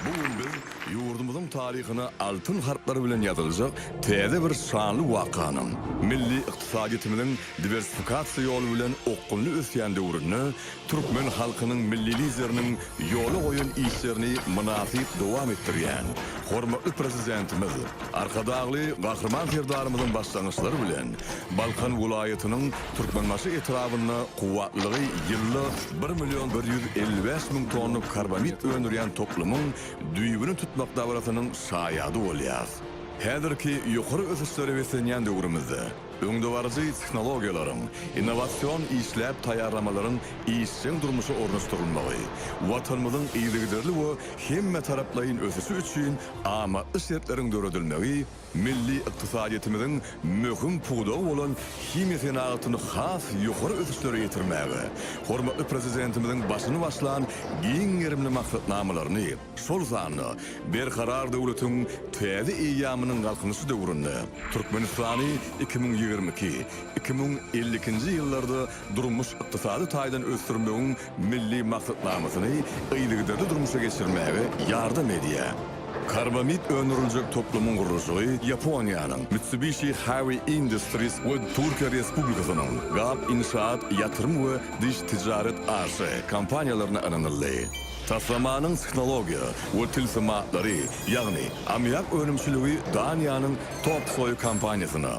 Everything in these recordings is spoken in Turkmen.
Bu gün biz ýurdumyzyň taryhyna altyn harplar bilen ýazyljak täze bir şanly wakanyň, milli ykdysadyýetimiziň diwersifikasiýa ýoly bilen okgunly ösýän döwründe türkmen halkynyň Milli Lideriniň ýola goýan işlerini mynasyp dowam etdirýän hormatly Prezidentimiz Arkadagly Gahryman Serdarymyzyň başlangyçlary bilen Balkan welaýatynyň Türkmenbaşy etrabynda kuwwatlygy ýylda bir million bir ýüz elli bäş müň tonna karbamid öndürýän toplumyň düýbüni tutmak dabarasynyň şaýady bolýarys. Häzirki ýokary ösüşlere beslenýän döwrümizde öňdebaryjy tehnologiýalaryň, innowasion işläp taýýarlamalaryň işjeň durmuşa ornaşdyrylmagy Watanymyzyň yzygiderli we hemmetaraplaýyn ösüşi üçin amatly şertleriň döredilmegi Milli ykdysadyýetimiziň möhüm pudagy bolan himiýa senagatyny has ýokary ösüşlere ýetirmäge, hormatly Prezidentimiziň başyny başlan giň gerimli maksatnamalaryny, şol sanda Berkarar döwletiň täze eýýamynyň Galkynyşy döwründe Türkmenistany iki müň ýigrimi iki, iki müň elli ikinji ýyllarda durmuş-ykdysady taýdan ösdürmegiň Milli maksatnamasyny yzygiderli durmuşa geçirmäge ýardam edýär. Karbamid öndüriljek toplumyň gurluşygy Ýaponiýanyň Mitsubishi Heavy Industries we Türkiýe Respublikasynyň Gap Inşaat Ýatyrym we Diş Ticaret AŞ kompaniýalaryna ynanyldy. Taslamanyň tehnologiýa we tilsimatlary, ýagny ammiak önümçiligi Daniýanyň Topsoe kompaniýasyna,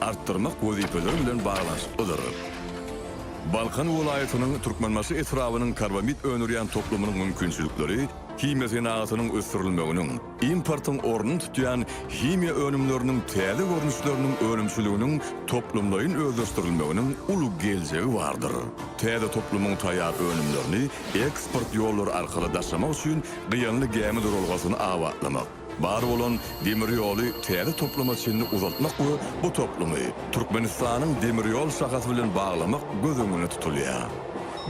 artdyrmak wezipeleri bilen baglanyşyklydyr. Balkan welaýatynyň Türkmenbaşy etrabynyň karbamid öndürýän toplumynyň mümkinçilikleri himiýa senagatynyň ösdürilmeginiň, importyň ornuny tutýan himiýa önümleriniň täze görnüşleriniň önümçiliginiň toplumlaýyn özleşdirilmeginiň uly geljegi bardyr. Täze toplumyň taýýar önümlerini eksport ýollary arkaly daşamak üçin gyýanly gämi duralgasyny abatlamak, Bar bolan demir ýoly täze topluma çenli uzaltmak we bu toplumy Türkmenistanyň demir ýol şahasy bilen baglamak göz öňünde tutulýar.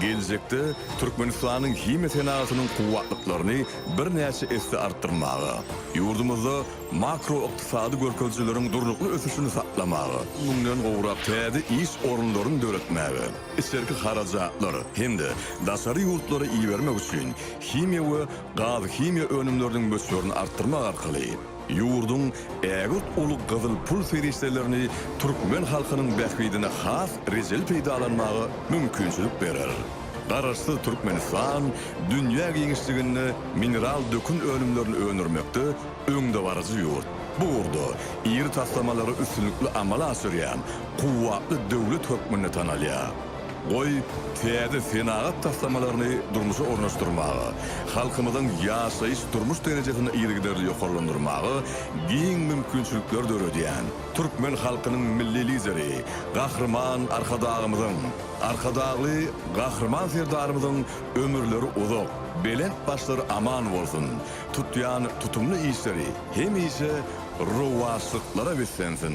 Geljekde Türkmenistanyň himiýa senagatynyň kuwwatlyklaryny birnäçe esse artdyrmaga, ýurdumyzda makroykdysady görkezijileriň durnukly ösüşini saklamaga, müňden gowrak täze iş orunlaryny döretmäge, içerki harajatlar hem-de daşary ýurtlara ibermek üçin himiýa we gaz-himiýa önümleriniň möçberini artdyrmak arkaly ýurduň ägirt uly gyzyl pul serişdelerini türkmen halkynyň bähbidine has rejeli peýdalanmaga mümkinçilik berer. Garaşsyz Türkmenistan dünýä giňişliginde mineral dökün önümlerini öndürmekde öňdebaryjy ýurt, bu ugurda iri taslamalary üstünlikli amala aşyrýan kuwwatly döwlet hökmünde tanalýar. Goý, täze senagat taslamalaryny durmuşa ornaşdyrmaga, halkymyzyň ýaşaýyş-durmuş derejesini yzygiderli ýokarlandyrmaga giň mümkinçilikler döredýän türkmen halkynyň Milli Lideri Gahryman Arkadagymyzyň, Arkadagly Gahryman Serdarymyzyň ömürleri uzak, belent başlary aman bolsun, tutýan tutumly işleri hemişe rowaçlyklara beslensin!